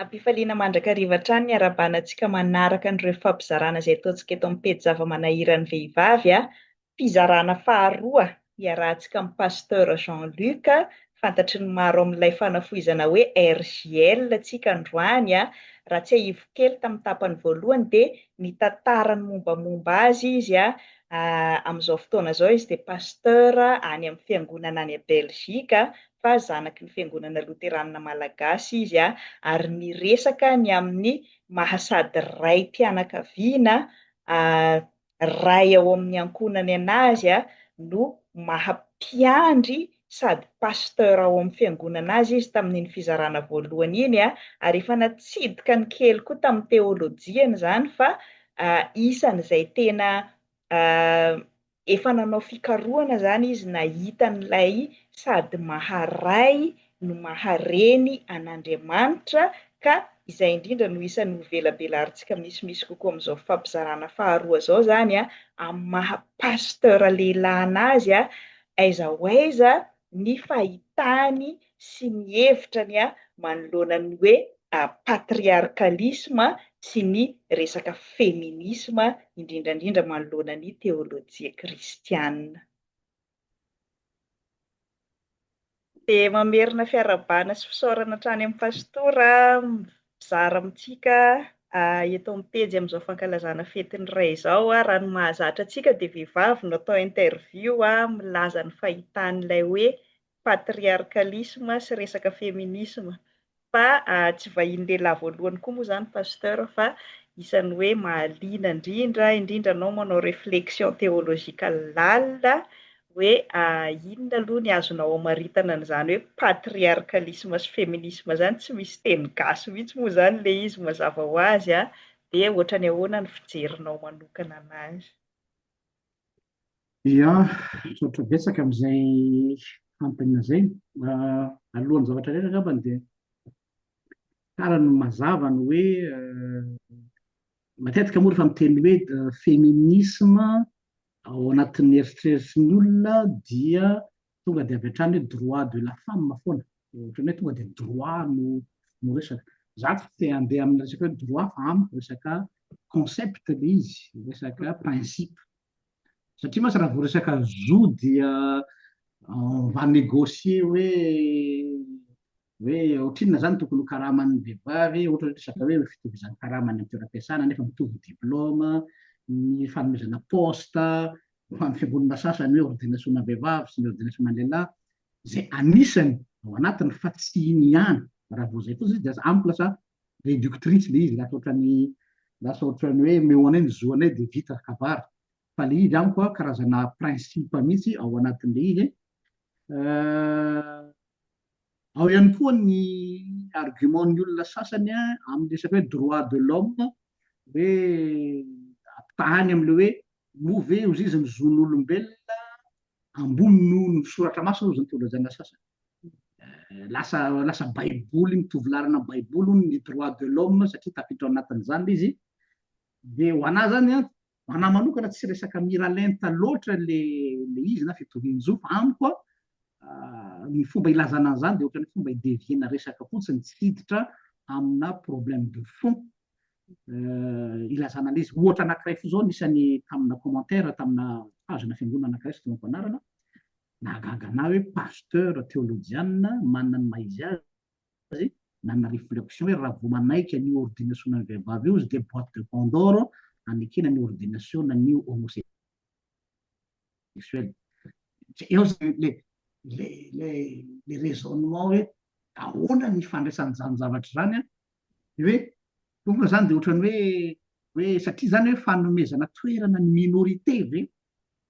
Am-pifaliana mandrakariva hatrany ny harabana antsika manaraka an'ireo fampizarana izay ataontsika eto amin'ny pejy Zava-manahiran'ny vehivavy a. Fizarana faharoa iarahantsika amin'i Pasteur Jean Luc, fantatry ny maro amin'ilay fanafohizana hoe RJL antsika androany a. Raha tsiahivo kely tamin'ny tapany voalohany dia nitantara ny mombamomba azy izy a. Amin'izao fotoana izao izy dia Pasteur any amin'ny fiangonana any Belgique, fa zanaky ny Fiangonana Loteranina Malagasy izy ary niresaka ny amin'ny maha sady raim-pianakaviana, ray ao amin'ny ankohonany an'azy no maha mpiandry sady pasteur ao amin'ny Fiangonana azy izy tamin'iny fizarana voalohany iny ary efa natsidika ny kely koa tamin'ny teolojiany izany fa isan'izay tena efa nanao fikarohana izany izy nahita an'ilay sady maha-Ray no maha-Reny an'Andriamanitra ka izay indrindra no isan'ny hovelabelarintsika misimisy kokoa amin'izao fifampizarana faharoa izao izany amin'ny maha-pasteur lehilahy an'azy aiza ho aiza ny fahitany sy ny hevitrany manoloana ny hoe patriarkalisma sy ny resaka feminisma, indrindra indrindra manoloana ny teolojia kristiana. Dia mamerina fiarahabana sy fisaorana hatrany amin'ny Pastora aho. Zara amintsika eto amin'ny pejy amin'izao fankalazana fetin'ny Ray izao, raha ny mahazatra antsika dia vehivavy no atao interview milaza ny fahitany ilay hoe patriarcalisme sy resaka feminisme, fa tsy vahiny lehilahy voalohany koa moa izany Pasteur fa isan'ny hoe mahaliana indrindra indrindra anao manao reflexion theological lalina hoe inona aloha ny azonao amaritana an'izany hoe patriarcalisme sy feminisme izany, tsy misy teny gasy mihitsy moa izany ilay izy mazava ho azy an, dia ohatran'ny ahoana ny fijerinao manokana an'azy? Ia, misaotra betsaka amin'izay fanontaniana izay. Alohan'ny zavatra rehetra angambany dia tsara ny mazava ny hoe matetika moa rehefa miteny hoe feminisme Ao anatin'ny eritreritry ny olona dia tonga dia avy hatrany hoe droit de la femme foana, ohatran'ny hoe tonga dia droit no no resaka. Za tsy te handeha amin'ny resaka hoe droit fa amiko resaka concept ilay izy, resaka principe. Satria mantsy raha vao resaka zo dia on va négocier hoe Hoe ohatrinona izany tokony ho karaman'ny vehivavy, ohatra hoe resaka hoe fitovizan'ny karama any amin'ny toeram-piasana nefa mitovy diplaoma, ny fanomezana poste ho an'ny fiangonana sasany hoe ordination-na vehivavy sy ny ordination-na lehilahy, izay anisany ao anatiny fa tsy iny ihany, raha vao izay fotsiny izy dia lasa amiko lasa réductrice ilay izy, lasa ohatran'ny lasa ohatran'ny hoe omeo anay ny zo anay dia vita kabary, fa ilay izy amiko karazana principe mihitsy ao anatin'ilay izy, Ao ihany koa ny argument ny olona sasany amin'ny resaka hoe droit de l'homme hoe ampitahany amin'ilay hoe moa ve ozy izy ny zon'olombelona ambony noho ny soratra masina ozy ny teolojiana sasany. Lasa lasa baiboly mitovy laharana amin'ny baiboly hono ny droit de l'homme satria tafiditra ao anatin'izany ilay izy dia ho anà izany an, Ho an'ahy manokana tsy resaka miralenta loatra ilay izy na fitorian-jo fa amiko ny fomba ilazana an'izany dia ohatran'ny hoe fomba hi-devier-na resaka fotsiny tsy hiditra amina problème de fond ilazana an'ilay izy. Ohatra anankiray fo izao nisy any tamina commentaire tamina page-na fiangonana anankiray tsy teo am-panarana, nahagaga an'ahy hoe pasteur teolojianina manana ny maha-izy azy, azy nanana reflexion hoe raha vao manaiky an'io ordination an'ny vehivavy io izy dia boite de pandore hanekena ny ordination an'ny homosexuel. Eo izany le le le le raisonnement hoe ahoana ny fandraisan'izany zavatra izany an, dia hoe tonga izany dia ohatran'ny hoe hoe satria izany hoe fanomezana toerana ny minorité ve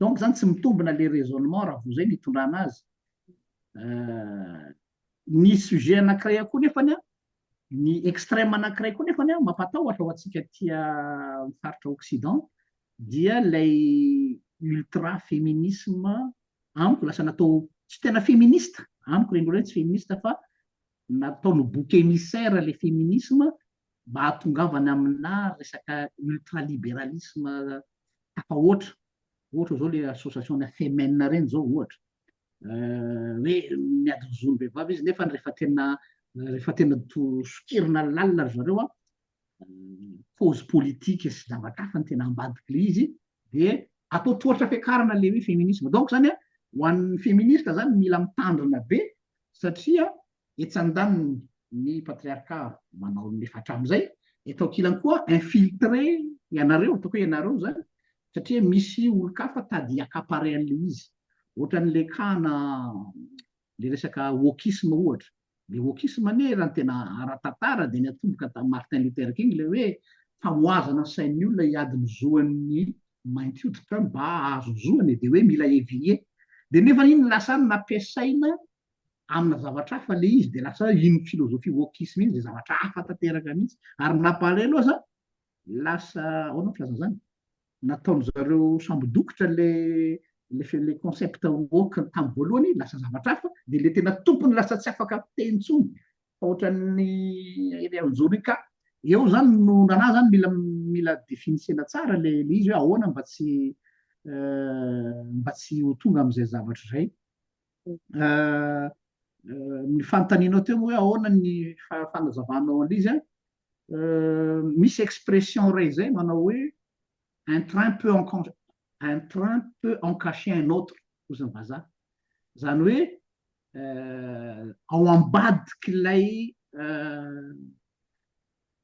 Donc zany tsy mitombina le raisonnement raha vao zay no itondrana azy. Ny sujet anakiray koa nefany an, ny extreme anakiray koa nefany an, mampatahotra ho antsika aty amin'ny faritra occident dia ilay ultra feminisme amiko lasa natao tsy tena feminista, amiko reny olona reny tsy feminista fa nataony bouc émissaire le feminisme mahatongavana aminà resaka ultralibéralisme tafahoatra, ohatra izao ilay association-nà Femen ireny izao ohatra, hoe miady ny zon'ny vehivavy izy nefa rehefa tena rehefa tena sokirina lalina ry zareo cause politique sy zavatra hafa no tena ambadik'ilay izy dia atao tohatra fiakarana ilay hoe feminisme. Donc izany ho an'ny feminista izany mila mitandrina be satria etsy andaniny ny patriarka manao ny efa hatramin'izay, eto ankilany koa infiltré ianareo, ataoko hoe ianareo izany, satria misy olon-kafa tady hi-accaparer an'ilay izy. Ohatran'ilay cas-na ilay resaka wokisme ohatra. Ilay wokisme anie raha ny tena ara-tantara dia niatomboka tamin'i Martin Luther King ilay hoe famohazana ny sain'ny olona hiady ny zo an'ny mainty hoditra mba hahazo ny zoany dia hoe mila éveiller. Dia nefa iny lasa nampiasaina amina zavatra hafa ilay izy dia lasa iny philosophie wokisme iny izay zavatra hafa tanteraka mihitsy. Ary ny mampalahelo aza, lasa, ahoana ny filazana izany, nataon-dry zareo sambo dokotra ilay ilay ilay concept woke tamin'ny voalohany, lasa zavatra hafa, dia ilay tena tompony lasa tsy afaka miteny intsony fa ohatran'ny ilay anjory ka. Eo izany no nanahy izany mila mila definisena tsara ilay ilay izy hoe ahoana mba tsy mba tsy ho tonga amin'izay zavatra izay. ny fanontanianao teo hoe ahoana ny fanazavanao an'izy an, misy expression iray izay manao hoe un train peut en cacher un train peut en cacher un autre hozy ny vazaha, izany hoe ao ambadik'ilay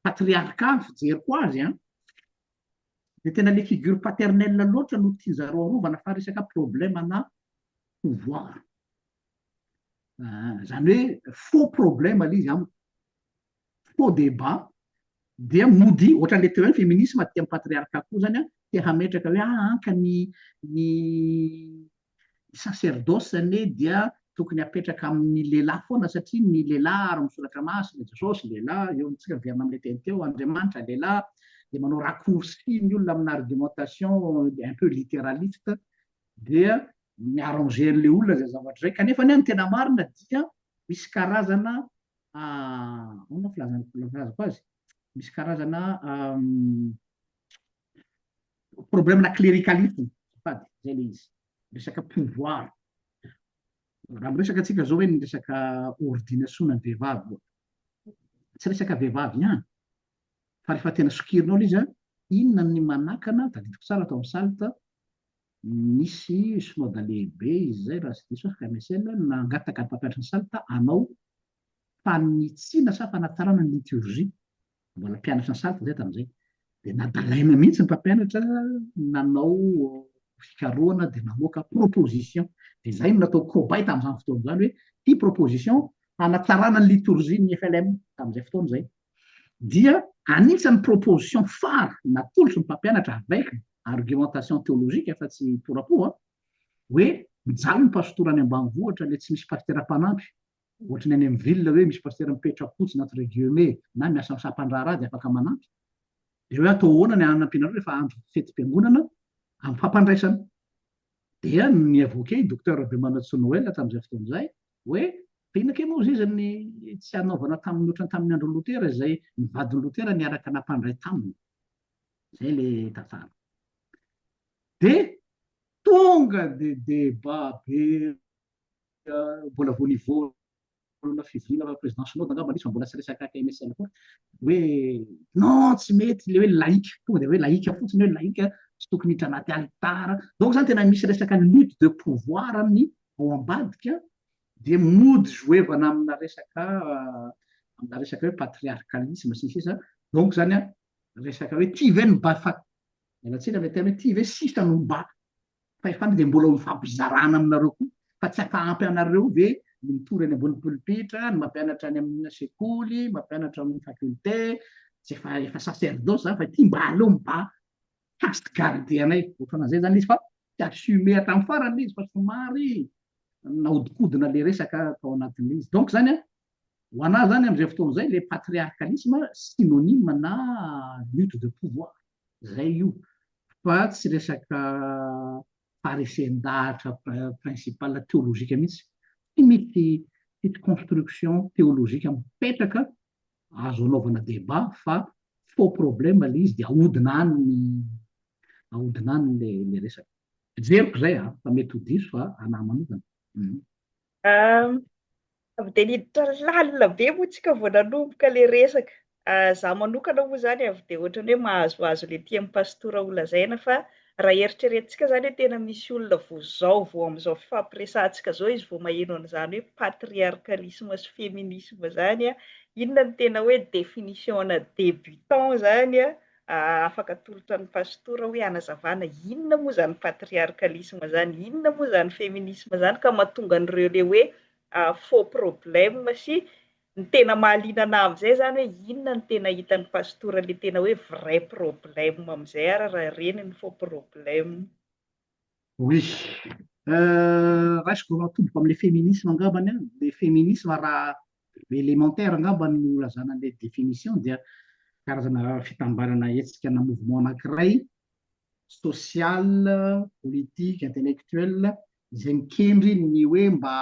patriarka ny fijeriko azy an, dia tena ilay figure paternelle loatra no tian'izareo arovana fa resaka problème na pouvoir ah, zany hoe faux problème aloha izy amiko faux débat dia mody ohatran'le teo any féminisme tia patriarca koa zany a te hametraka hoe ah anka ny ny sacerdoce zany hoe dia tokony apetraka amin'ny lehilahy foana satria ny lehilahy ary misoratra masy le jesosy lehilahy eo amintsika miverina am'le teny teo andriamanitra lehilahy de manao raccourci ny olona amina argumentation un peu littéraliste dia mi-arranger an'ilay olona izay zavatra izay, kanefa anie ny tena marina dia misy karazana ahoana filazana filazako azy, misy karazana problème-na cléricalisme azafady, izay ilay izy, resaka pouvoir, raha miresaka antsika izao hoe ny resaka ordination-na ny vehivavy, tsy resaka vehivavy ihany, Fa rehefa tena sokirinao ilay izy an, inona ny manakana, tadidiko tsara tao amin'ny salt, nisy synoda lehibe izay raha tsy diso aho FMSL no nangataka ny mpampianatra ny salt hanao fanitsiana sa fanatsarana ny liturgie, mbola mpianatra ny salt izahay tamin'izay, dia nadalaina mihitsy ny mpampianatra nanao fikarohana dia namoaka proposition, dia izahay no natao cobaye tamin'izany fotoana izany hoe ity proposition hanatsarana ny liturgie ny FLM tamin'izay fotoana izay, dia anisan'ny proposition phare natolotry ny mpampianatra avec argumentation théologique fa tsy porapo an, hoe mijaly ny pastora any ambanivohitra le tsy misy pastera mpanampy, ohatry ny any amin'ny ville hoe misy pastera mipetra fotsiny entre guillemets na miasa amin'ny sampandraharaha dia afaka manampy, dia hoe atao ahoana ny hanampianareo rehefa andro fetim-piangonana amim-pampandraisana? dia ny avoquer i Docteur Rabemanantsoa Noël tamin'izay fotoana izay Hoe, fa inona kay moa izay izany ny tsy hanaovana tamin'ny ohatrany tamin'ny andron'i Lotera izay ny vadin'i Lotera niaraka nampandray taminy. Izay ilay tantara. Dia tonga dia débat be mbola vao nivoana fivoriana fa président Synode angamba nisy fa mbola tsy resaka KMSL koa hoe non tsy mety ilay hoe laïque tonga dia hoe laïque fotsiny hoe laïque tsy tokony hiditra anaty alitara. Donc izany tena misy resaka lutte de pouvoir amin'ny ao ambadika dia mody zoevana amina resaka amina resaka hoe patriarcalisme sy ny sisa donc zany a resaka hoe ty ve no ba fa ialatsiny le tena hoe ty ve sisa no ba fahefana dia mbola ho mifampizarana aminareo koa fa tsy afa ampy anareo ve ny mitory any ambony polipitra ny mampianatra any amina sekoly mampianatra amin'ny faculté tsy efa efa sacerdoce zany fa ty mba aleo miba Past garde anay otrana zay zany izy fa tsy assume hatramin'ny farany le izy fa somary nahodikodina le resaka tao anatin'le izy donc zany a ho anah zany am'zay fotoana zay le patriarcalisme synonyme na lutte de pouvoir zay io fa tsy resaka faharesen-dahatra principal théologique mihitsy tsy misy construction théologique mipetraka Azo anaovana débat fa faux problème ilay izy dia ahodina any ny ahodina any ilay resaka. Fijeriko izay a, fa mety ho diso fa anà manokana. Avy dia niditra lalina be moa tsika vao nanomboka ilay resaka. Za manokana moa izany avy dia ohatran'ny hoe mahazoazo ilay tian'i Pastora holazaina fa Raha eritreretintsika izany hoe tena misy olona vao izao, vao amin'izao fifampiresahantsika izao izy vao maheno an'izany hoe patriarcalisme sy feminisme izany, inona no tena hoe définition-na débutant izany? Afaka atolotra ny Pasitora hoe hanazavana inona moa izany patriarcalisme izany, inona moa izany feminisme izany ka mahatonga an'ireo ilay hoe faux problème sy Ny tena mahaliana anah amzay zany hoe inona no tena hitan'ny pastora le tena hoe vrai problème amzay ary raha ireny no faux problème. Oui. Euh, raisiko vao atodiko amle feminisme angambany an, le feminisme raha elementaire angambany no ilazana anle definition dia karazana fitambarana hetsika na mouvement anakiray social, politique, intellectuel izay mikendry ny hoe mba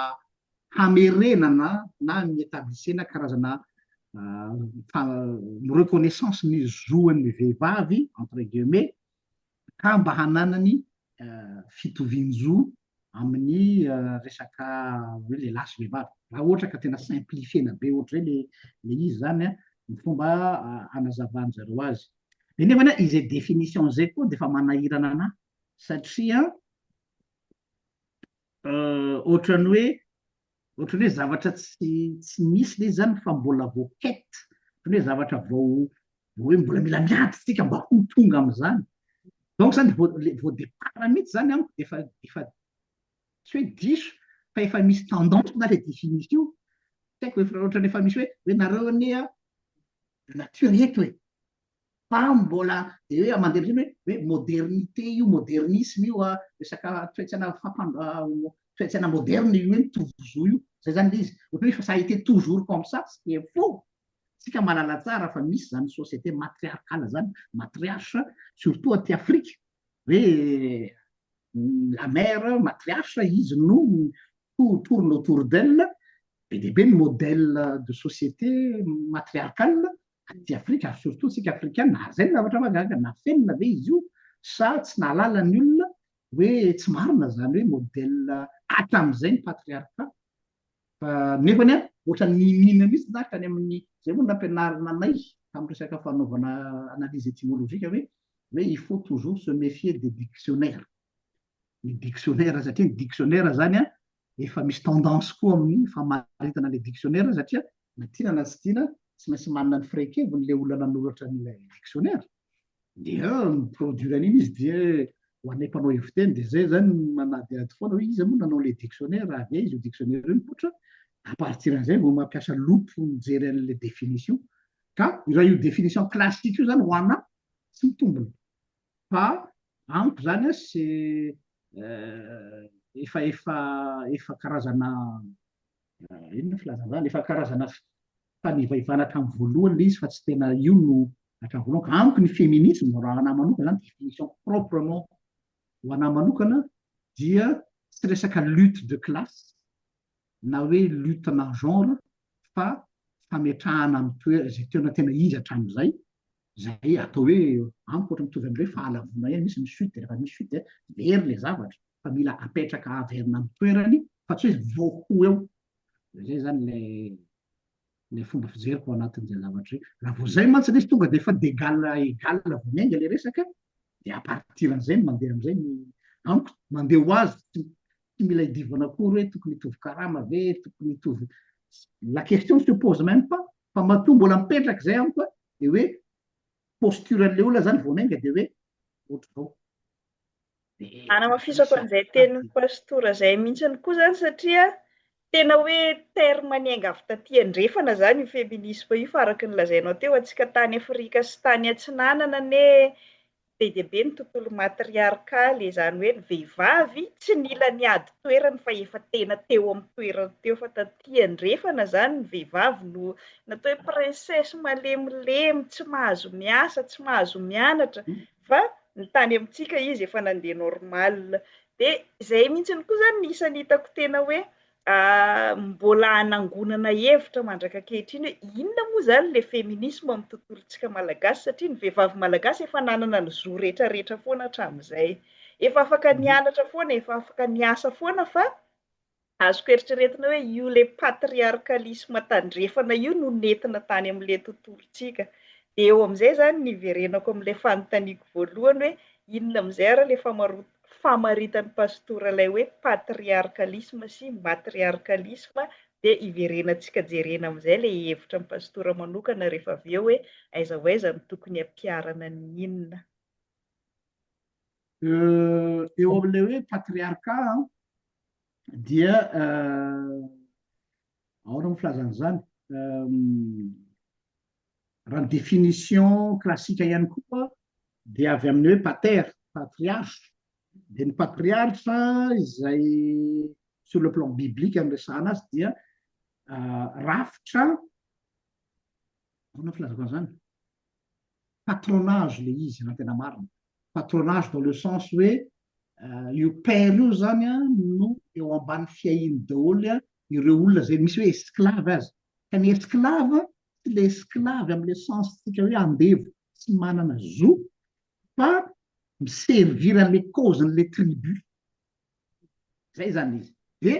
hamerenana na ny etablisena karazana reconnaissance ny zoan'ny vehivavy entre guillemets ka mba hananany fitovian-jo amin'ny resaka hoe lehilahy sy vehivavy raha ohatra ka tena simplifier-na be ohatr'izay le le izy zany a ny fomba anazavan-dry zareo azy de nefany a izay définition izay koa de efa manahirana anahy satria Ohatran'ny hoe ohatran'ny hoe zavatra tsy tsy nisy le izy zany fa mbola vao quête, ohatran'ny hoe zavatra vao vao hoe mbola mila miady tsika mba ho tonga am'zany. Donc zany vao le vao départ mihitsy zany amiko de efa efa tsy hoe diso fa efa misy tendance na le définition io, tsy haiko hoe ohatran'ny efa misy hoe hoe nareo anie a de nature eto e! fa mbola hoe mandeha hoe hoe modernité io modernisme io a resaka toetsaina fampan toetsaina moderne io hoe ny tovozo io zay zany le izy ohatra hoe fa ça a été toujours comme ça ce qui est faux tsika malala tsara fa misy zany société matriarcale zany matriarche surtout aty Afrique hoe la mère matriarche izy no to- tourne autour d'elle be dia be ny modèle de société matriarcale aty Afrika ary surtout tsika Afrikana ary zay ny zavatra mahagaga, nafenina ve izy io sa tsy nahalala ny olona hoe tsy marina zany hoe modèle hatramizay ny patriarcat fa nefany an ohatra ny mihina mihitsy za tany amin'ny zay moa nampianarina anay tamin'ny resaka fanaovana analyse étymologique hoe hoe il faut toujours se méfier des dictionnaires ny dictionnaires satria ny dictionnaires zany an efa misy tendance koa amin'ny famaritana ilay dictionnaire satria na tiana na tsy tiana tsy maintsy manana ny firehin-keviny ilay olona nanoratra an'ilay dictionnaire dia mi-produire an'iny izy dia ho anay mpanao heviteny dia izay izany manadihady foana hoe iza moa nanao ilay dictionnaire avy aiza io dictionnaire io mipoitra à partir an'izay vao mampiasa loupe mijery an'ilay définition ka raha io définition classique io izany ho anà tsy mitombina fa amiko zany a se efa efa efa karazana inona ny filazana zany efa karazana fanivaivana hatramin'ny voalohany le izy fa tsy tena io no hatramin'ny voalohany ka amiko ny feminisme raha anahy manokana zany définition proprement ho anahy manokana dia tsy resaka lutte de classe na hoe lutte na genre fa fametrahana amin'ny toerana izay tena tena izy hatramin'izay Izay atao hoe amiko ohatra mitovy amin'ireo hoe fahalavoana ihany, misy ny chute dia rehefa misy chute dia very ilay zavatra fa mila apetraka averina amin'ny toerany fa tsy hoe vao ho eo. Izay izany ilay ilay fomba fijeriko ao anatin'izay zavatra izay. Raha vao izay mantsy ilay izy tonga dia efa d'égal à égal vao miainga ilay resaka dia à partir an'izay no mandeha amin'izay ny amiko mandeha ho azy tsy tsy mila idivana akory hoe tokony hitovy karama ve, tokony hitovy la question se pose même pas fa matoa mbola mipetraka izay amiko dia hoe posture an'ilay olona zany vao nainga dia hoe ohatr'izao Anamafisako an'izay tenin'ny pastora izay mihitsiny koa izany satria tena hoe terme niainga avy taty andrefana izany io feminisme io fa araka ny lazainao teo antsika tany Afrika sy tany atsinanana anie be dia be ny tontolo matriarkaly, izany hoe ny vehivavy tsy nila niady toerana fa efa tena teo amin'ny toerany teo fa taty andrefana izany ny vehivavy no natao hoe princesse malemilemy, tsy mahazo miasa, tsy mahazo mianatra fa ny tany amintsika izy efa nandeha normal. Dia izay mihitsy koa izany ny isan'ny hitako tena hoe Mbola hanangonana hevitra mandraka ankehitriny hoe inona moa izany ilay feminisma ao amin'ny tontolontsika malagasy satria ny vehivavy malagasy efa nanana ny zo rehetra rehetra foana hatramin'izay. Efa afaka nianatra foana, efa afaka niasa foana fa azoko eritreretina hoe io ilay patriarcalisme tandrefana io no nentina tany amin'ilay tontolontsika. Dia eo amin'izay izany no niverenako amin'ilay fanontaniako voalohany hoe inona amin'izay ary ilay famaroan- famaritan'i Pastora ilay hoe patriarkalisma sy matriarkalisma dia iverenantsika jerena amin'izay ilay hevitra an'i Pastora manokana rehefa avy eo hoe aiza ho aiza no tokony hampiharana ny inona. Eo amin'ilay hoe patriarka dia ahoana moa filazana izany? Raha ny définition classique ihany koa dia avy amin'ny hoe pater, patriarche, dia ny patriarche izay sur le plan biblique no resahana azy dia rafitra, ahoana ny filazako an'izany? patronage ilay izy raha ny tena marina, patronage dans le sens hoe io père io izany no eo ambany fiahiany daholo ireo olona izay misy hoe esclave aza, ka ny esclave tsy le esclave am le sens tsika hoe andevo tsy manana zo fa mi servir an le cause an le tribu zay zany izy de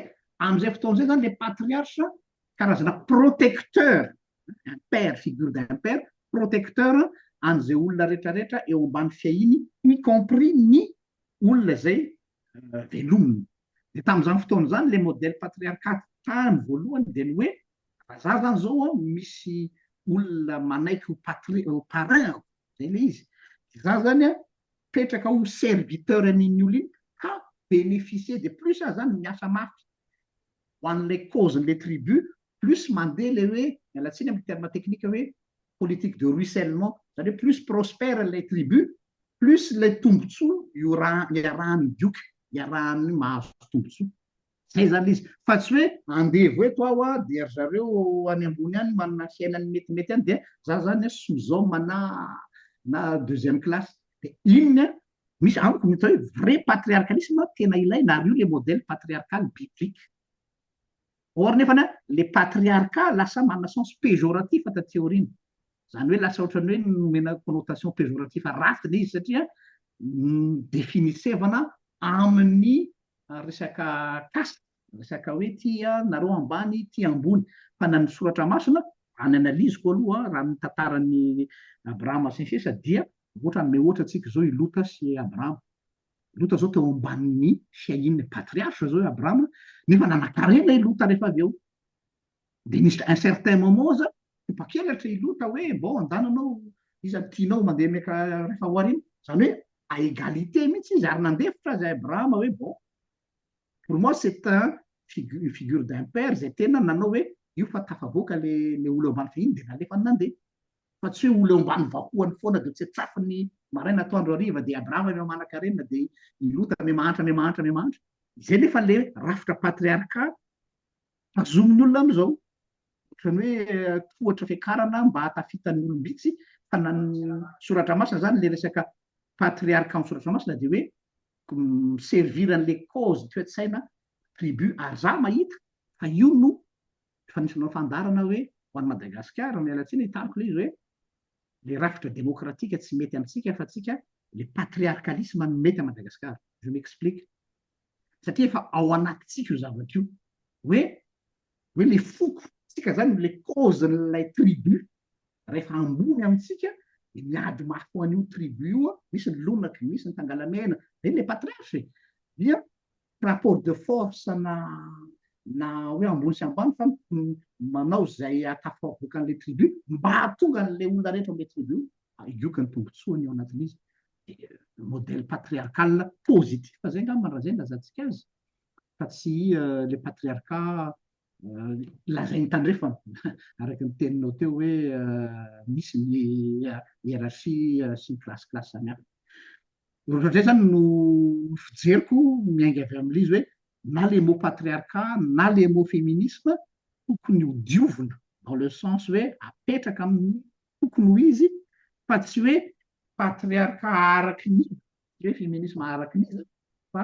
am zay fotoana zay zany le patriarche karazana protecteur un père figure d'un père protecteur an ze olona retraretra eo ambany fiahiny y compris ny olona zay velominy de tam zany fotoana zany le modèle patriarcat tany voalohany de ny hoe Raha za zany zao an, misy olona manaiky ho patri- ho parrain-ko, zay le izy, de za zany an, petraka ho serviteur an'iny olona iny ka beneficier de plus aho zany miasa mafy ho an'ilay cause-n'ilay tribu, plus mandeha le hoe, miala tsiny amin'ny terme technique hoe, politique de ruissellement, zany hoe plus prospère ilay tribu, plus ilay tombotsoa iora- iarahan'ny dioka, iarahan'ny mahazo tombotsoa. Zay zany le izy. Fa tsy hoe andevo eto aho dia ry zareo any ambony any manana fiainany metimety any dia za zany a sous homme na na deuxième classe. Dia iny a, misy amiko ny atao hoe vrai patriarcalisme tena ilaina ary io le modèle patriarcal biblique. Or nefany a, le patriarcat lasa manana sens péjoratif taty aoriana. Zany hoe lasa ohatrany hoe nomena connotation péjoratif ratsy le izy satria definisevana amin'ny ary resaka kasa, resaka hoe ty nareo ambany ty ambony, fa na ny soratra masina raha ny analyse-ko aloha raha ny tantaran'i Abrahama sy ny sisa dia ohatra hanome ohatra tsika zao i Lota sy Abrahama, Lota zao teo ambanin'ny fiahian'ny patriarche zao i Abrahama nefa nanakarena i Lota rehefa avy eo, Dia nisy un certain moment za topakelatra i Lota hoe mbao andana anao iza no tianao mandeha meka rehefa ho aoriana. Izany hoe à égalité mihitsy izy ary nandefitra azy Abrahama hoe bon pour moi c'est un figu- une figure d'un père izay tena nanao hoe io fa tafavoaka le le olona eo ambany fahiny dia nalefany nandeha. Fa tsy hoe olona eo ambany vahohany foana dia tsetsafin'ny maraina atoandro hariva dia Abrahama me manankarena dia i Lota me mahantra me mahantra me mahantra. Izay nefa le rafitra patriarcat Tazomin'ny olona amin'izao. Ohatran'ny hoe tohatra fiakarana mba hahatafitany ny olom-bitsy, fa na ny soratra masina izany ilay resaka patriarka amin'ny soratra masina dia hoe mi-servir an'ilay cause toe-tsaina tribu ary izaho mahita fa io no efa nisy nanao fandaharana hoe ho an'i Madagasikara, miala tsiny hitariko ilay izy hoe ilay rafitra demokratika tsy mety amintsika fa antsika ilay patriarkalisma no mety an'i Madagasikara. Je m'explique. satria efa ao anatintsika io zavatra io hoe hoe le foko tsika zany le cause n'ilay tribu rehefa ambony amintsika de miady mafy ho an'io tribu io a misy ny lonaky misy ny tangalamena reny le patriarche e dia rapport de force na na hoe ambony sy ambany fa manao zay hahatafo avoakan'le tribu mba hahatonga an'le olona rehetra am'le tribu io ka ny tombotsoany ao anatin'izy modèle patriarcal positif zay angamba raha zay no ilazantsika azy fa tsy ilay patriarcat lazain'i Tandrefana araka ny teninao teo hoe misy ny hiérarchie sy ny classe classe samy hafa. Ohatr'izay zany no fijeriko miainga avy amin'ilay izy hoe na le mot patriarcat na le mot féminisme tokony ho diovina dans le sens hoe apetraka amin'ny Tokony ho izy fa tsy hoe patriarka araky ny iza, tsy hoe feminisma araky ny iza fa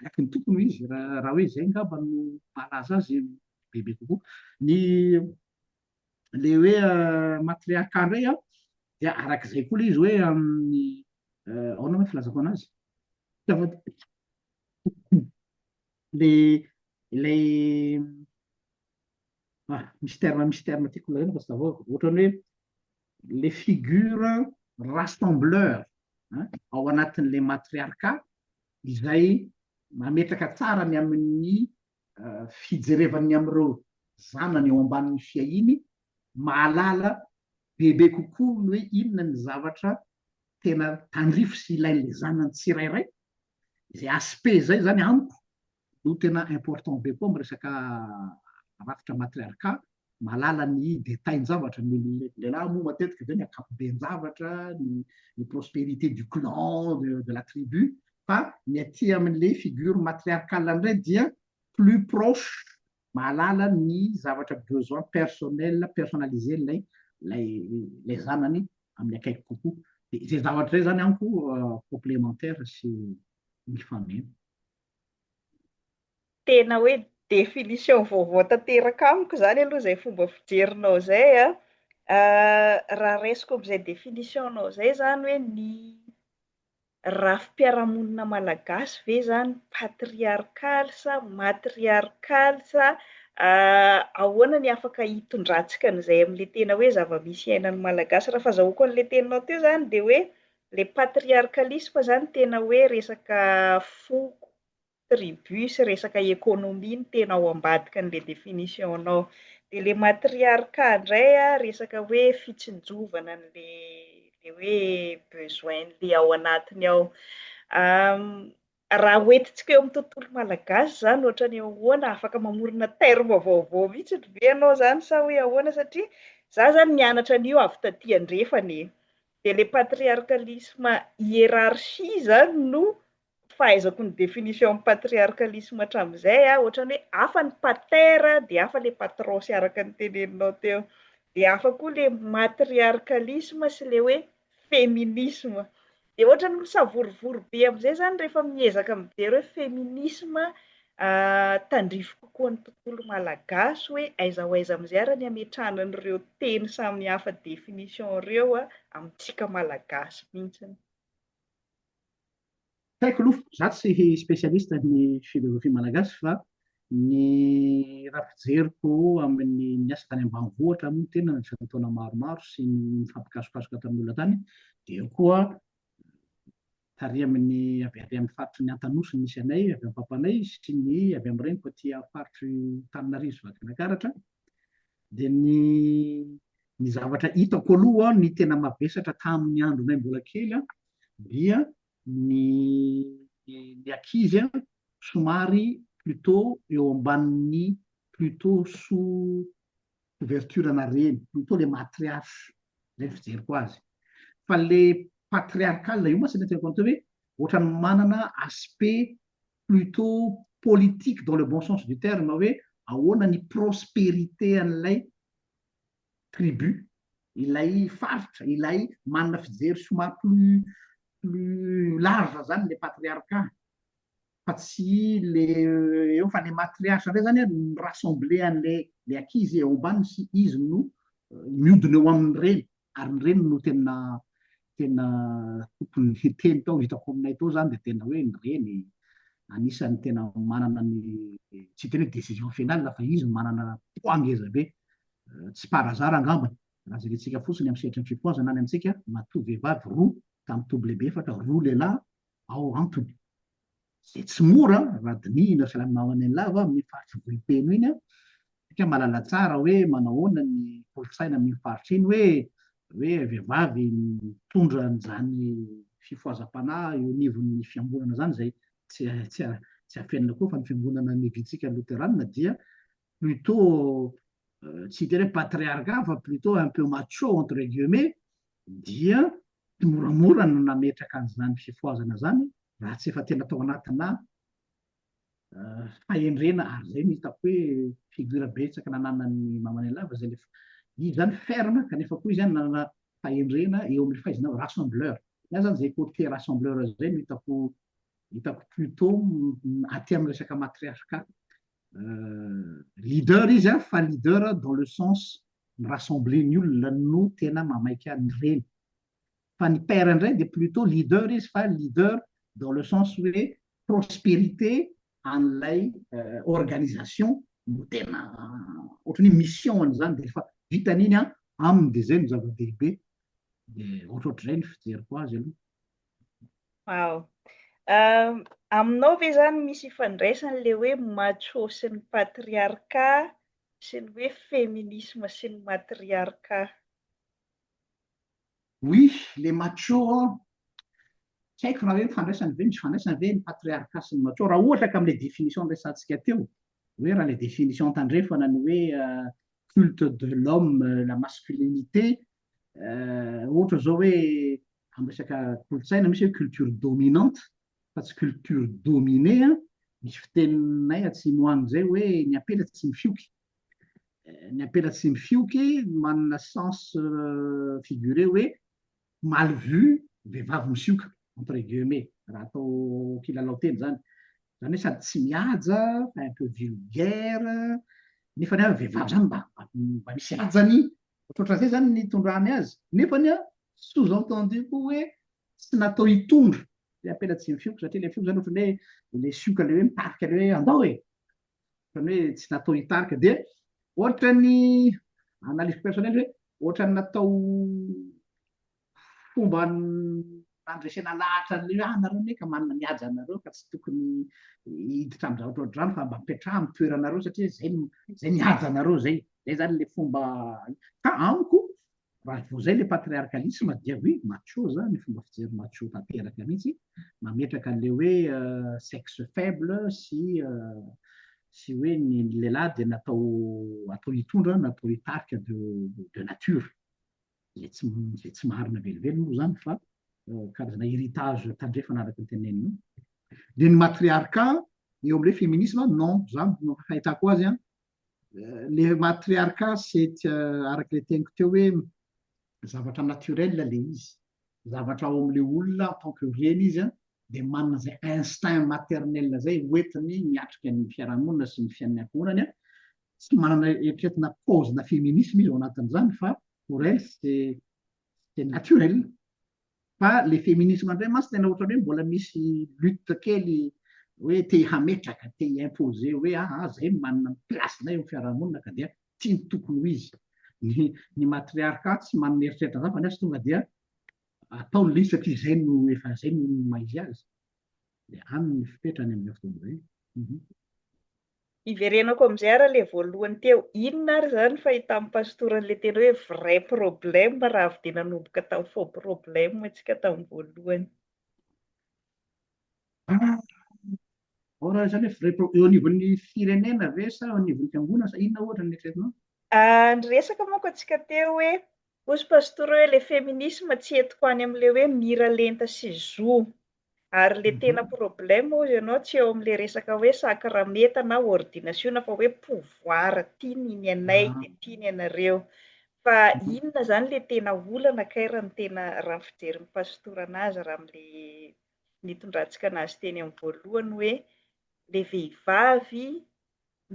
araky ny tokony ho izy, raha hoe izay angamba no mahalaza azy bebe kokoa. Ny ilay hoe matriarka indray an, dia araky izay koa ilay izy hoe amin'ny ahoana moa filazako anazy? Ilay ilay ah misy terme misy terme tiako lazaina fa tsy tavaoako ohatrany hoe le figure rassembleur an ao anatin'le matriarka izay mametraka tsara ny amin'ny fijerevan'ny amin'ireo zanany eo ambanin'ny fiahiany mahalala bebe kokoa ny hoe inona ny zavatra tena tandrify sy ilain'le zanany tsirairay izay aspect izay zany amiko no tena important be koa am resaka rafitra matriarca, mahalala ny detail njavatra, ny lehilahy moa matetika ve ny akapoben javatra, ny prosperite du clan, de la tribu, fa ny aty amin le figure matriarcale ndray dia plus proche, mahalala ny zavatra besoin personnel, personnalise lay lay zanany amin akaiky kokoa, de zay zavatra zay zany amiko complementaire sy mifanena. Tena hoe définition vaovao tanteraka amiko izany aloha izay fomba fijerinao izay an! Raha raisiko amin'izay définition-nao izay izany hoe ny rafi-piarahamonina malagasy ve izany patriarkaly sa matriarkaly sa ahoana ny afaka hitondrantsika an'izay amin'ilay tena hoe zava-misy iainan'ny Malagasy? Raha fazahoako an'ilay teninao teo izany dia hoe Le patriarcalisme zany tena hoe resaka foko, tribu sy resaka economie no tena ao ambadiky an'le définition-nao. De le matriarcat ndray a, resaka hoe fitsinjovana an'le le hoe besoin-n'le ao anatiny ao. Raha hoentintsika eo amin'ny tontolo malagasy izany ohatran'ny ahoana? Afaka mamorona terme vaovao mihitsy ve ianao izany sa hoe ahoana? Satria izaho izany nianatra an'io avy taty andrefana e! Dia ilay patriarcalisme hiérarchie izany no fahaizako ny définition-n'ny patriarcalisme hatramin'izay an, ohatran'ny hoe hafa ny pater dia hafa ilay patron sy araka ny teneninao teo. Dia hafa koa ilay matriarcalisme sy ilay hoe feminisma dia ohatran'ny misavorovoro be amin'izay izany rehefa miezaka mijery hoe feminisma tandrify kokoa ny tontolo malagasy hoe aiza ho aiza amin'izay ary ny hametrahana an'ireo teny samihafa définition ireo amintsika malagasy mihitsy. Tsy haiko aloha, za tsy spécialiste ny philosophie malagasy fa ny raha fijeriko amin'ny niasa tany ambanivohitra moa tena nandritra ny taona maromaro sy ny nifampikasokasoka tamin'ny olona tany dia eo koa tary amin'ny avy ary amin'ny faritry ny Antanosy ny misy anay, avy amin'ny papanay sy ny avy amin'ny reniko aty amin'ny faritry Tananarivo sy Vakinakaratra dia ny ny zavatra hitako aloha ny tena mavesatra tamin'ny andronay mbola kely dia ny ny ankizy an, somary plutôt eo ambanin'ny plutôt sous couverture ana reny, plutôt le matriarche zay ny fijeriko azy, fa le patriarcal io mantsy mety atao hoe ohatran'ny manana aspect plutôt politique dans le bon sens du terme hoe ahoana ny prosperité an'ilay tribu, ilay faritra, ilay manana fijery somary plus plus large zany le patriarcat fa tsy le eo fa le matriarche ndray zany an mi-rassembler anle le ankizy ao ambany sy izy no miodina eo amin'ny reny ary ny reny no tena tena tokony hiteny tao hitako aminay tao zany dia tena hoe ny reny anisan'ny tena manana ny tsy hiteny hoe décision finale fa izy manana poids ngeza be tsy par hasard angambany raha jerentsika fotsiny amin'ny sehatry ny fipoazana any amintsika matoa vehivavy roa tamin'ny toby lehibe efatra roa lehilahy Ao antony, izay tsy mora raha dinihina fiaraha-milamina eny lava amin'iny faritry Vohipeno iny. Isika mahalala tsara hoe manao ahoana ny kolontsaina amin'iny faritra iny hoe hoe vehivavy mitondra an'izany fifohazam-panahy eo anivon'ny fiangonana izany izay tsy tsy tsy afenina koa fa ny fiangonana mivitsika loteranina dia plutôt tsy hiteny hoe patriarcat fa plutôt un peu macho entre guillemets dia moramora no nametraka an'izany fifohazana izany raha tsy efa tena tao anatina fahendrena ary izay no hitako hoe figure betsaka nananan'ny Mamanelava izay le izy zany ferme kanefa koa izy zany nanana fahendrena eo amin'ny fahaizana rassembleur iany zany izay côté rassembleur izay no hitako hitako plutôt aty amin'ny resaka matriarcat leader izy an, fa leader dans le sens mi-rassembler ny olona no tena mamaika an'ireny. Fa ny père indray dia plutot leader izy fa leader dans le sens hoe prospérité an'ilay organisation no tena ohatran'ny hoe mission an'izany, dia rehefa vitan'iny an, aminy dia izay no zava-dehibe. Dia ohatrohatr'izay ny fijeriko azy aloha. Wow. Um, aminao ve zany misy ifandraisany le hoe macho sy ny patriarka sy ny hoe feminisme sy ny matriarka? Oui, le macho tsy haiko raha hoe mifandraisany ve misy fandraisany ve ny patriarka sy ny macho raha ohatra ka amin'ilay définition niresantsika teo hoe raha ilay définition tandrefana ny hoe euh, culte de l'homme euh, la masculinité ohatra zao hoe amin'ny resaka kolontsaina misy hoe culture dominante fa tsy culture dominée an, misy fiteninay atsimo any zay hoe ny ampela tsy mifioky, ny ampela tsy mifioky manana sens figuré hoe mal vu vehivavy misioka entre guillemets raha atao kilalao teny zany, zany hoe sady tsy mihaja fa un peu vulgaire nefany ary vehivavy zany mba mba misy hajany Ohatran'izay izany ny itondrany azy. Nefa ny sous-entendu koa hoe tsy natao hitondra ilay apelatsiny fioky satria ilay fioky izany ohatran'ny hoe ilay sioka ilay hoe mitarika ilay hoe andao e! Ohatran'ny hoe tsy natao hitarika dia ohatran'ny analyse personnelle hoe ohatran'ny natao fomba nandresena lahatra an'ireo hoe, ah, nareo anie ka manana ny haja anareo ka tsy tokony hiditra amin'ny zavatra ohatr'izany fa mba mipetraha amin'ny toeranareo satria izay no izay ny haja anareo izay izay zany le fomba ka amiko raha vao izay le patriarcalisme dia oui macho zany fomba fijery macho tanteraka mihitsy mametraka an'le hoe euh, sexe faible sy euh, sy hoe ny lehilahy dia natao atao hitondra natao hitarika de, de nature Izay tsy, izay tsy maharina velively moa izany fa karazana héritage tandrefana araka ny teneninao. Dia ny matriarka eo amin'ilay feminisma, non, za no fahitako azy an, le matriarka c'est araka le teniko teo hoe zavatra naturel le izy, zavatra ao amin'le olona en tant que reny izy an, dia manana izay instinct maternel izay hoentiny miatrika ny fiarahamonina sy ny fiainan'ny ankohonany an, tsy manana eritreretina paozina feminisme izy ao anatin'izany fa pour elle c'est c'est naturel fa le feminisme indray mantsy tena ohatrany hoe mbola misy lutte kely hoe te hametraka te hi-imposer hoe aa ah, zay manana ny place-nay eo amin'ny fiarahamonina ka dia tsy ny tokony ho izy ny ny matriarcat tsy manana eritreretina zany fa nefa tonga dia atao ny liste satria zay no efa zay no maha izy azy dia any ny fipetrany amin'izao fotoana izao mhm Hiverenako amin'izay ary ilay voalohany teo, inona ary izany fahitan'ny pastora an'ilay teny hoe vrai problème raha avy dia nanomboka tamin'ny faux problème isika tamin'ny voalohany. Ao raha izany hoe vrai problème, eo anivon'ny firenena ve sa eo anivon'ny fiangonana sa inona ohatra no eritreretinao? Niresaka manko antsika teo hoe, hoy pastora hoe ilay feminisme tsy entiko any amin'ilay hoe mira lenta sy zo. Ary le tena problème hozy ianao tsy eo amin'le resaka hoe sakramenta na ordinasiona fa hoe pouvoir ty ny ny anay ah. de ty ny anareo. Fa inona zany le tena olana kay raha ny tena raha ny fijerin'ny pasitora anazy raha amle nitondrantsika anazy teny amin'ny voalohany hoe le vehivavy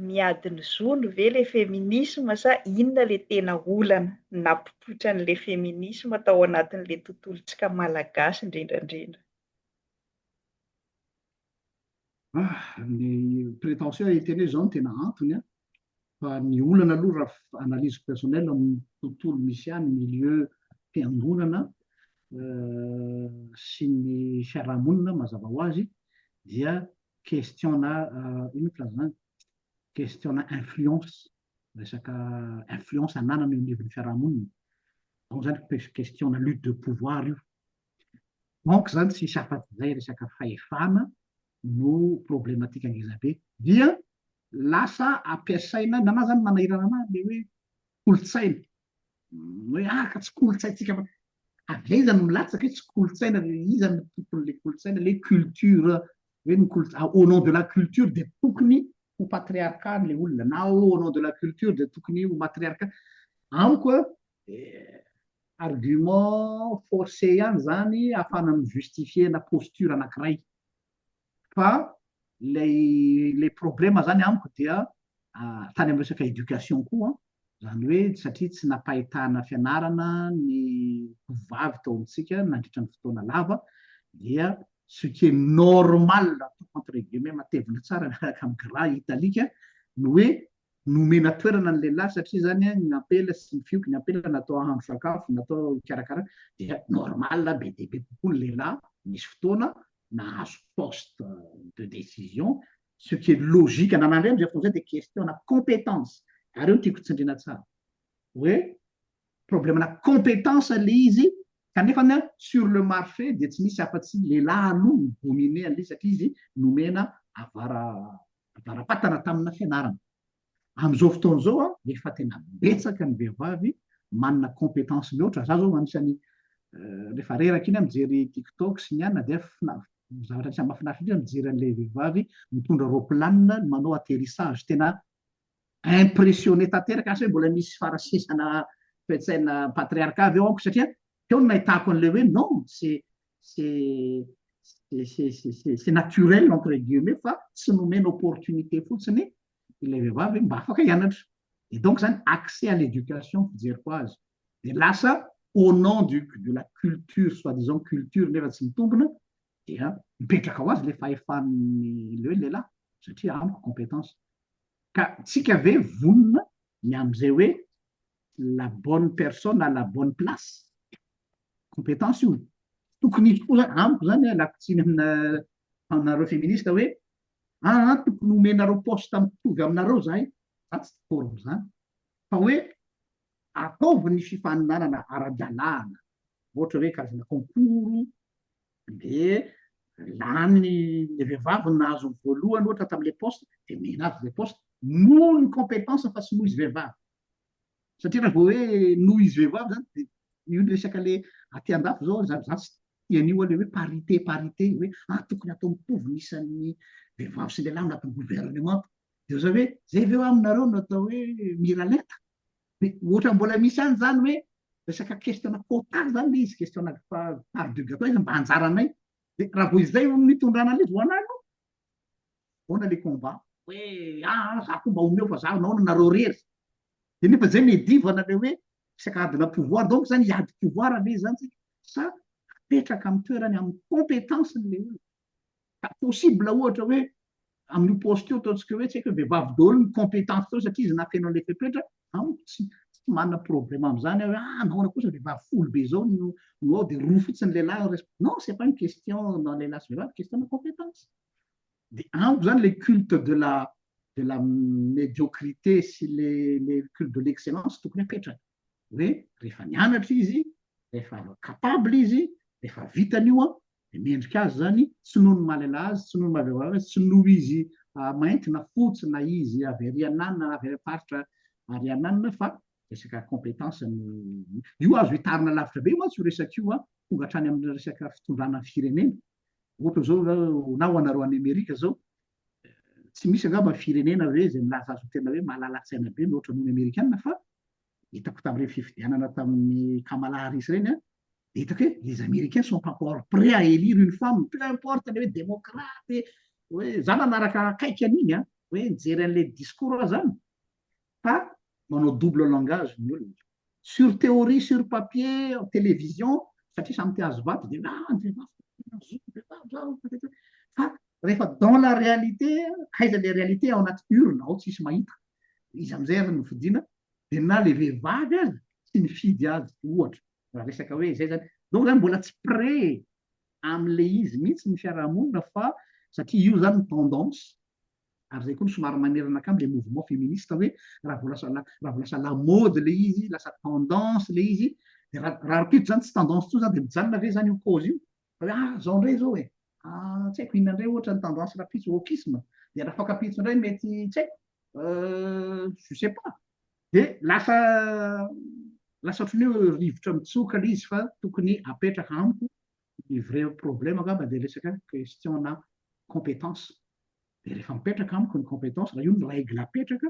miady ny zony ve le feminisma sa inona le tena olana napopoitra an'le feminisma tao anatin'le tontolontsika malagasy indrindrandrindra? Ah, ny prétention hiteny hoe izao no tena antony an! fa ny olana aloha raha analyse personnelle amin'ny tontolo misy ahy, ny milieu fiangonana sy ny fiarahamonina mazava ho azy dia questionna inona filaza an'izany? questionna influence, resaka influence ananana eo anivon'ny fiarahamonina, donc izany questionna lutte de pouvoir io, donc izany tsy hisy afa-tsy izay resaka fahefana no problematika ngeza be, dia lasa ampiasaina, na na izany manahirana anah ilay hoe kolontsaina, hoe ah ka tsy kolontsaintsika fa avy aiza no milatsaka hoe tsy kolontsaina le iza no tompon'le kolontsaina le culture hoe ny kolo au nom de la culture dia tokony ho patriarcat le olona na au nom de la culture dia tokony ho matriarcat amiko a argument forcé ihany zany afahana mi-justifier-na posture anankiray fa ilay ilay problème zany amiko dia tany amin'ny resaka éducation koa zany hoe satria tsy nampahitana fianarana ny tovovavy tao amintsika nandritra ny fotoana lava dia ce qui est normal entre guillemets matevina tsara miaraka amin'ny gras italique no hoe nomena toerana ny lehilahy satria zany ny ampela sy ny fioky ny ampela natao hahandro sakafo natao hikarakara dia normal be dia be kokoa ny lehilahy misy fotoana nahazo poste de décision, ce qui est logique, na nandray amin'izay fotoana izay dia question ana compétence, ary io no tiako tsindriana tsara, hoe problème ana compétence ilay izy, kanefa ny sur le marché dia tsy misy afa-tsy lehilahy aloha no dominer an'ilay izy satria izy nomena avara, avara-patana tamina fianarana. Amin'izao fotoana izao a, efa tena betsaka ny vehivavy manana compétence mihoatra. Za zao anisan'ny rehefa reraka iny a mijery tiktok sy ny anona dia zavatra anisan'ny mahafinaritra indrindra mijery an'ilay vehivavy mitondra roplanina manao atterissage. Tena impressionné tanteraka, asa hoe mbola misy farasesana toe-tsaina patriarcat ve ao amiko satria teo no nahitako an'ilay hoe non, c'est c'est c'est c'est c'est naturel entre guillemets fa tsy nomena opportunité fotsiny ilay vehivavy hoe mba afaka hianatra. Dia donc zany accès à l'éducation fijeriko azy. Dia lasa au nom du de la culture soit disant culture nefa tsy mitombina dia mipetraka ho azy le fahefan'ny le hoe lehilahy satria amiko compétence. Ka tsika ve vonona ny amin'izay hoe la bonne personne à la bonne place compétence io tokony hisy koa zany amiko zany lakotsiny amina aminareo féministe hoe Aa tokony homenareo poste mitovy aminareo zahay za tsy d'accord amzany fa hoe ataovy ny fifaninanana ara-dalàna ohatra hoe karazana concours de lany ny vehivavy no nahazo ny voalohany ohatra tamle poste de omena azy le poste noho ny competence fa tsy noho izy vehivavy. satria raha vao hoe noho izy vehivavy zany de io le resaka le aty andafy zao za za tsy tia an'io le hoe parité parité hoe ah tokony atao mitovy ny isan'ny vehivavy sy lehilahy anatin'ny gouvernement de oza hoe zay ve aminareo no atao hoe miralenta de ohatra mbola misy any zany hoe resaka question quota zany le izy question part du gâteau izy mba anjaranay de raha vao izay no nitondrana an'izy ho anay aloha Ahoana le combat? Hoe ah ah za ko mba omeo fa za anao no nareo rery. De nefa zay medivana le hoe resaka adina pouvoir donc zany hiady pouvoir ve zany tsika sa apetraka amin'ny toerany amin'ny compétence-ny le olona. Ka possible ohatra hoe amin'io poste io ataontsika hoe tsy haiko hoe vehivavy daholo ny compétence teo satria izy nafeno an'ilay fepetra Amiko tsy tsy manana problème amin'izany aho hoe ah nahoana kosa vehivavy folo be izao no no ao dia roa fotsiny lehilahy le rest non c'est pas une question na lehilahy sy vehivavy question-na compétence de amiko izany le culte de la de la médiocrité sy le le culte de l'excellence tokony hapetraka hoe rehefa nianatra izy rehefa capable izy rehefa vitany io an Dia mendrika azy izany, tsy noho ny maha lehilahy azy, tsy noho ny maha vehivavy azy, tsy noho izy mainty na fotsy na izy avy ary anana na avy ary faritra ary anana fa resaka compétence no io azo hitarina lavitra be mantsy io resaka io an, tonga hatrany amin'ny resaka fitondrana firenena. Ohatra izao zao na ho anareo any Amerika izao, tsy misy angamba firenena hoe izay milaza azy ho tena hoe malala-tsaina be mihoatra noho ny Amerikana fa Hitako tamin'ireny fifidianana tamin'i Kamala Harris ireny an, dia hitako hoe les Américains sont encore prêts à élire une femme, peu importe le hoe demokraty, hoe za nanaraka akaiky an'iny an, hoe nijery an'ilay discours aza an, fa manao double langage ny olona. Sur théorie, sur papier, en télévision, satria samy te hahazo vato dia ah ny vehivavy tena zo ny vehivavy zao patati, fa rehefa dans la réalité, aiza ilay réalité ao anaty urne ao tsisy mahita. iza amin'izay aza no fidiana dia na le vehivavy aza tsy nifidy azy ohatra raha resaka hoe izay zany donc zany mbola tsy pré amle izy mihitsy ny fiarahamonina fa satria io zany ny tendance ary zay koa no somary manerana akamy le mouvement féministe hoe raha vao lasa raha vao lasa la mode le izy lasa tendance le izy dia raha raha raha mpitso zany tsy tendance tsony zany dia mijanona ve zany io cause io Hoe ah zao ndray zao e, ah tsy haiko inona ndray ohatra ny tendance rapitso, wokisme, dia raha fankapitso ndray mety tsy haiko euh je sais pas, dia lasa lasa ohatran'ny hoe rivotra mitsoka le izy fa tokony apetraka amiko ny vrai problème angamba dia resaka question na compétence, dia rehefa mipetraka amiko ny compétence raha io no règle apetraka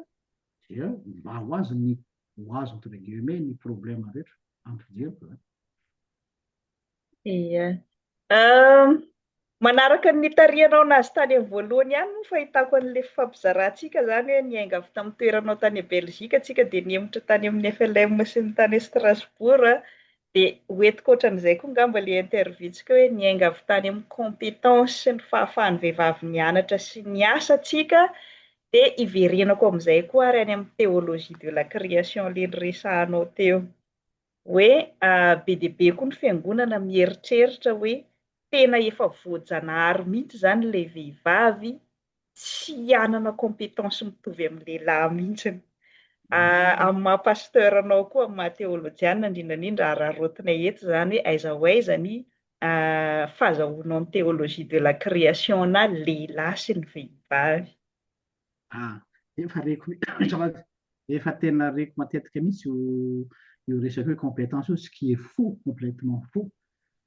dia mba ho azy ny ho azy entre guillemets ny problème rehetra amin'ny fijeriko zany. Ie. Manaraka ny nitarihanao anazy tany amin'ny voalohany ihany moa ny fahitako an'ilay fifampizarantsika izany hoe niainga avy tamin'ny toeranao tany Belgique isika dia nihemotra tany amin'ny FLM sy ny tany Strasbourg dia ho entiko ohatran'izay koa angamba ilay interview-ntsika hoe niainga avy tany amin'ny compétence sy ny fahafahan'ny vehivavy nianatra sy niasa isika dia hiverenako amin'izay koa ary any amin'ny théologie de la création ilay niresahanao teo. Hoe be dia be koa ny fiangonana mieritreritra hoe tena efa voajanahary mihitsy izany ilay vehivavy tsy hanana compétence mitovy amin'ny lehilahy mihitsy. Amin'ny maha pasteur anao koa, amin'ny maha teolojiana indrindra indrindra araraotinay eto izany hoe aiza ho aiza ny fahazahoanao ny théologie de la création-na lehilahy sy ny vehivavy. Ah, efa reko azafady. Efa tena reko matetika mihitsy io io resaka hoe compétence io, ce qui est faux, complètement faux.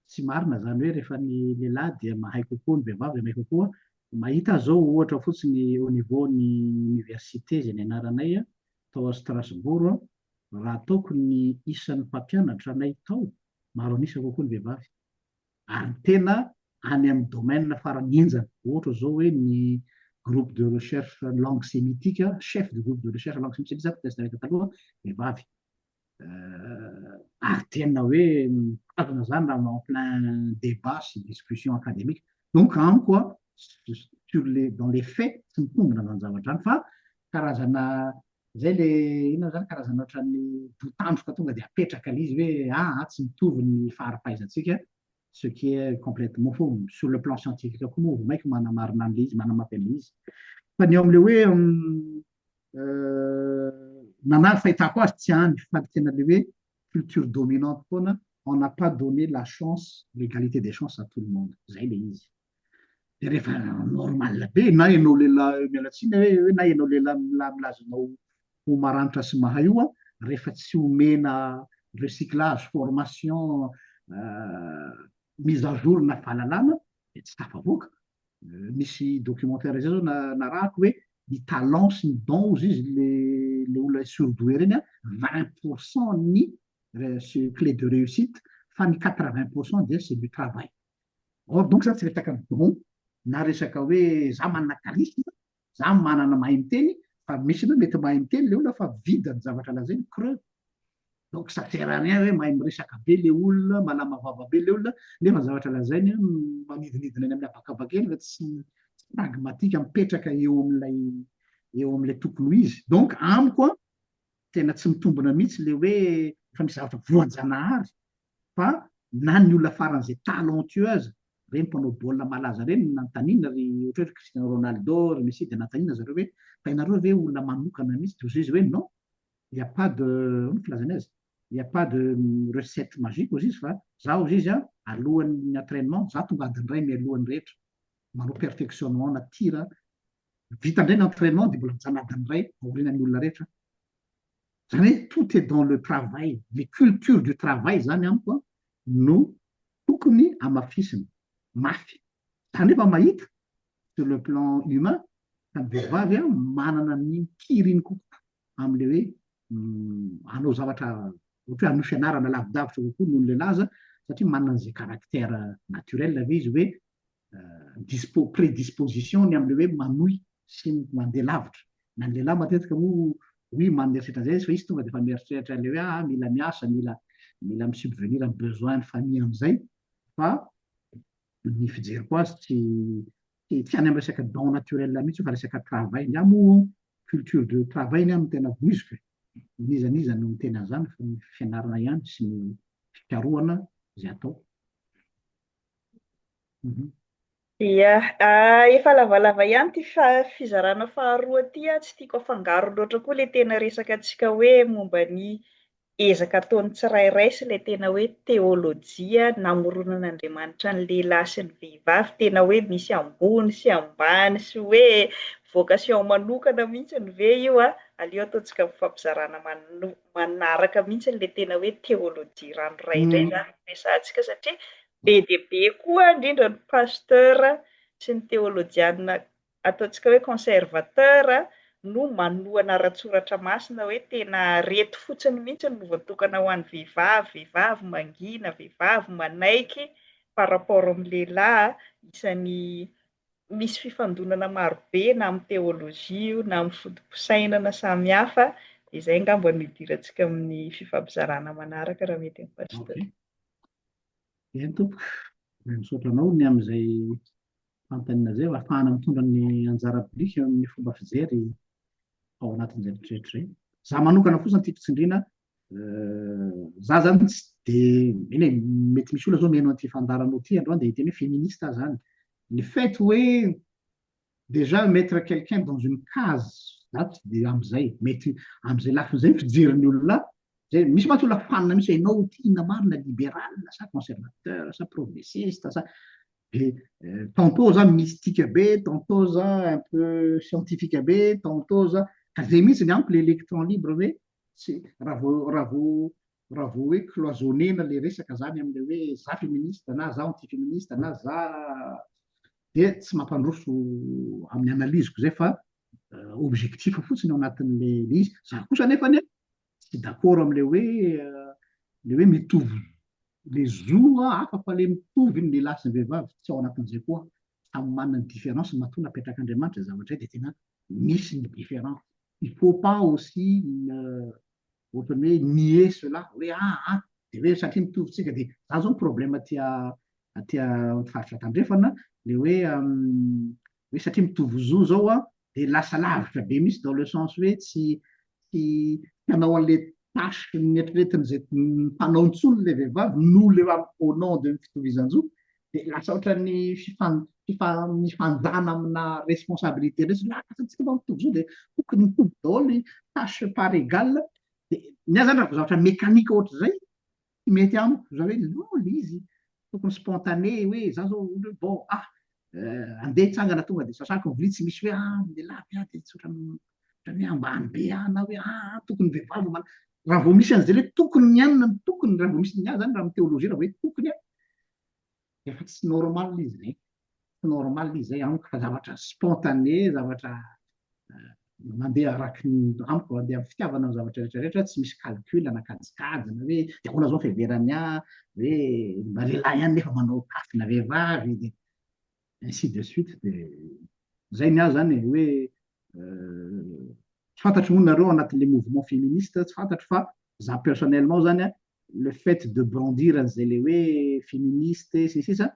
Tsy marina izany hoe rehefa ny lehilahy dia mahay kokoa ny vehivavy dia mahay kokoa. Mahita aho izao ohatra fotsiny au niveau ny université izay nianaranay tao à Strasbourg aho, raha ataoko ny isan'ny mpampianatra anay tao, maro an'isa kokoa ny vehivavy. ary tena any amin'ny domaine farany henjana, ohatra izao hoe ny groupe de recherche langue sémitique, chef du groupe de recherche langue sémitique satria za test nahita taloha vehivavy, ary tena hoe mitazona izany raha en plein débat sy discussion académique, donc amiko an, sur les, dans les faits, tsy mitombina izany zavatra izany fa karazana Izay ilay inona izany, karazana ohatran'ny doutandroka tonga dia apetraka ilay izy hoe a a tsy mitovy ny faharipahaizantsika, ce qui est complètement faux, sur le plan scientifique koa moa vao mainka manamarina an'ilay izy, manamafy an'ilay izy. Fa ny ao amin'ilay hoe na na ny fahitako azy tsy any fa ny tena ilay hoe culture dominante foana on n'a pas donné la chance, l'égalité des chances à tout le monde, izay ilay izy. de rehefa normal be na ianao lehilahy miala tsiny hoe hoe na ianao lehilahy mila- milaza anao ho maranitra sy mahay io an, rehefa tsy omena recyclage, formation, mise à jour na fahalalana dia tsy tafavoaka. Nisy documentaire izay zao na- narahako hoe ny talent sy ny don hozy izy le le olona surdoué ireny an, vingt pour cent ny re- clé de réussite fa ny quatre vingt pour cent dia c'est du travail. Or donc za tsy resaka don na resaka hoe za manana charisme, za manana mahay miteny, fa misy anao mety mahay miteny le olona fa vide ny zavatra lazainy, creux. Donc ça sert à rien hoe mahay miresaka be le olona, malama vava be le olona, nefa ny zavatra lazainy manidinidina eny amin'ny habakabaka eny fa tsy pragmatique mipetraka eo amin'ilay eo amin'ilay tokony ho izy. Donc amiko an, tena tsy mitombina mihitsy le hoe efa misy zavatra voajanahary fa na ny olona faran'izay talentueux aza, ireny mpanao baolina malaza ireny no nanontaniana ry ohatra hoe Cristiano Ronaldo, ry Messi dia nanontaniana zareo hoe fa ianareo ve olona manokana mihitsy dia hoy izy hoe non, il n'y a pas de, ahoana ny filazany azy, il n'y a pas de recette magique hozy izy fa za hozy izy an, alohan'ny entrainement za tonga adiny iray mialohan'ny rehetra, manao perfectionnement na tir vita indray ny entrainement dia mbola mijanona adiny iray aorianan'ny olona rehetra. Izany hoe tout est dans le travail, ny culture du travail izany amiko an, no tokony hamafisina mafy. Izany hoe efa mahita sur le plan humain fa ny vehivavy an, manana ny kiriny kokoa amin'ilay hoe hanao zavatra ohatra hoe hanao fianarana lavidavitra kokoa noho ny lehilahy aza satria manana an'izay caractère naturel ve izy hoe dispo prédisposition ny amle hoe manohy sy mandeha lavitra na ny lehilahy matetika moa oui maneritreritra an'izay izy fa izy tonga dia efa mieritreritra an'ilay hoe ah mila miasa mila mila mi-subvenir amin'ny besoin ny famille an'izay fa ny fijeriko azy tsy tsy tsy any amin'ny resaka don naturel mihitsy fa resaka travail ny amoa culture de travail ny amin'ny tena voiziko e. n'iza n'iza no miteny an'izany fa ny fianarana ihany sy ny fikarohana izay atao Ia, efa lavalava ihany ity fizarana faharoa ity, tsy tiako afangaro loatra koa ilay tena resakantsika hoe momba ny ezaka ataon'ny tsirairay sy ilay tena hoe teolojia namoronana Andriamanitra ny lehilahy sy ny vehivavy, tena hoe misy ambony sy ambany sy hoe vocation manokana mihitsy ve io an, aleo ataontsika fampizarana manokana. manaraka mihitsy ilay tena hoe théologie ranoray indray izany no resahantsika satria be dia be koa indrindra ny pasteur sy ny teolojiana ataontsika hoe conservateur no manohana ara-tsoratra masina hoe tena reto fotsiny mihitsy no voatokana ho an'ny vehivavy, vehivavy mangina, vehivavy manaiky par rapport amin'ny lehilahy isan'ny misy fifandonana maro be na amin'ny teolojia io na amin'ny foto-pisainana samihafa dia izay angamba no hidirantsika amin'ny fifampizarana manaraka raha mety ny Pasteur. Okay. Eny tompoko, misaotra anao ny amin'izay fanontaniana izay, ahafahana mitondra ny anjara biriky eo amin'ny fomba fijery ao anatin'izay rehetra izay. Za manokana fosa ny tiako tsindriana Za zany tsy de eny e, mety misy olona zao mihaino an'ity fandaharanao ity androany dia hiteny hoe féministe aho zany. Le fait hoe déjà mettre quelqu'un dans une case za tsy de am'zay, mety am'zay lafiny zay ny fijerin'ny olona ahy. Zay, misy mantsy olona fanina mihitsy hoe ianao ity inona marina, libéral sa conservateur sa progressiste sa de tantôt za mystique be, tantôt za un peu scientifique be, tantôt za, ka zay mihitsy ny amiko le électron libre hoe tsy raha vao raha vao raha vao hoe cloisonner-na le resaka zany am'le hoe za feministe na za anti feministe na za de tsy mampandroso amin'ny analyse-ko zay fa objectif fotsiny ao anatin'le le izy za kosa nefany a tsy d'accord am'le hoe le hoe mitovy le zo a hafa fa le mitovy ny lehilahy sy ny vehivavy tsy ao anatin'zay koa samy manana ny différence matoa napetrak'Andriamanitra izay zavatra izay dia tena misy ny différence. Il faut pas aussi ohatran'ny hoe nier cela hoe ah ah dia hoe satria mitovy tsika dia izany izao ny problème aty aty amin'ny faritra tandrefana ilay hoe hoe satria mitovy zo izao dia lasa lavitra be mihitsy dans le sens hoe tsy tsy hanao an'ilay tâche nieritreretin'izay mpanao intsony ilay vehivavy noho ilay au nom de ny fitovizan-jo dia lasa ohatran'ny fifan fifa mifanjana amina responsabilité indray satria lasa antsika mba mitovy zo dia tokony mitovy daholo ny tâche par égal dia ny ahy izany raha vao zavatra mécanique ohatr'izay Tsy mety amiko izany hoe lò ilay izy, tokony spontané hoe za zao ohatra hoe bon ah andeha hitsangana tonga dia sasako ny vilia tsy misy hoe ah ny lehilahy be ah dia tsy ohatran'ny ohatran'ny hoe ambany be ah na hoe ah tokony ny vehivavy no manao. Raha vao misy an'izay hoe tokony ny anona no tokony, raha vao misy ny ahy izany raha amin'ny théologie raha vao hoe tokony an, Efa tsy normal izy izay, tsy normal izy izay amiko fa zavatra spontané, zavatra mandeha araky ny amiko mandeha amin'ny fitiavana ny zavatra rehetra rehetra, tsy misy calcul na kajikajy na hoe dia ahoana izao ny fiheverany ahy, hoe mba lehilahy ihany nefa manao tafina vehivavy, dia ainsi de suite, dia izay ny ahy izany e, hoe tsy fantatro moa nareo anatin'ilay mouvement féministe, tsy fantatro fa za personnellement izany an, le fait de brandir an'izay le hoe feministe sy ny sisa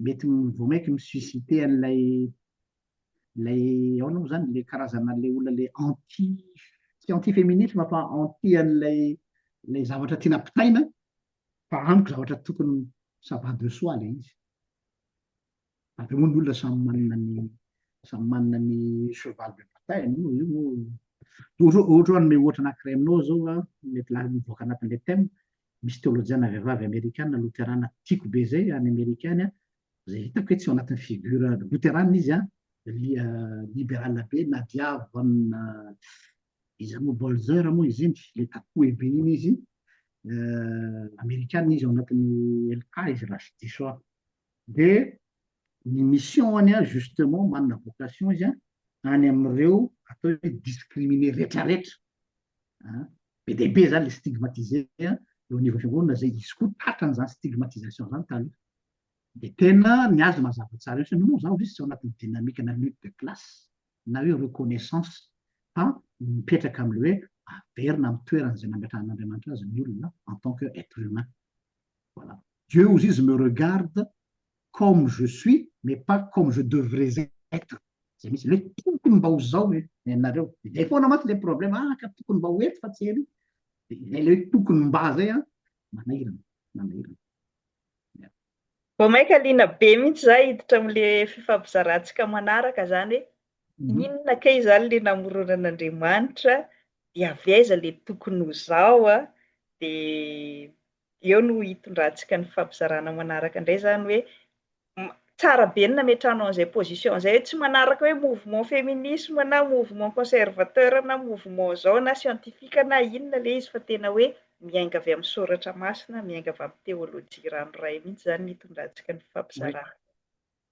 mety vao mainka mi-susciter an'ilay ilay ahoana moa izany ilay karazana ilay olona ilay anti tsy anti feminisme fa anti an'ilay ilay zavatra tiana ampitaina fa amiko zavatra tokony ça va de soi ilay izy Après moa ny olona samy manana ny samy manana ny cheval de bataille moa io moa ohatra hoe ohatra hoe hanome ohatra anankiray aminao zao a mety la- mivoaka anatin'ilay thème misy teolojiana vehivavy amerikana loterana tiako be zay any amerika any a zay hitako hoe tsy ao anatin'ny figure loterana izy a li- ah, liberala be nadia von ah, iza moa bolzer moa izy iny le tatoué be iny izy eh, amerikana izy ao anatin'ny lk izy raha tsy diso aho Dia ny mission-ny an, justement, manana vocation izy an, any amin'ireo atao hoe discriminés retraretra an, be dia be izany ilay stigmatisé eo anivon'ny fiangonana izay izy koa tratra an'izany stigmatisation izany taloha. Dia tena ny azy mazava tsara eo, satria moa izaho ve tsy ao anatin'ny dynamique-na lutte de classe na hoe reconnaissance fa mipetraka amin'ilay hoe averina amin'ny toerany izay nametrahan'Andriamanitra azy ny olona en tant que être humain. Voilà. Dieu ozy izy me regarde comme je suis mais pas comme je devrais être. Zay mihitsy le tokony mba ho zao le nenareo. Zay foana mantsy le problème ah ka tokony mba ho eto fa tsy ery. Zay le tokony mba zay an. Manahirana, manahirana. Vao maika liana be mihitsy za hiditra amle fifampizarantsika manaraka zany hoe Mhm. Inona kay izany le namoronan'Andriamanitra, dia avy aiza le tokony ho zao a? Dia eo no hitondrantsika ny fampizarana manaraka indray izany hoe tsara be ny nametrahanao an'izay position izay hoe tsy manaraka hoe mouvement féminisme na mouvement conservateur na mouvement zao na scientifique na inona le izy fa tena hoe miainga avy amin'ny soratra masina, miainga avy amin'ny théologie ranoray mihitsy izany ny hitondrantsika ny fampizarana.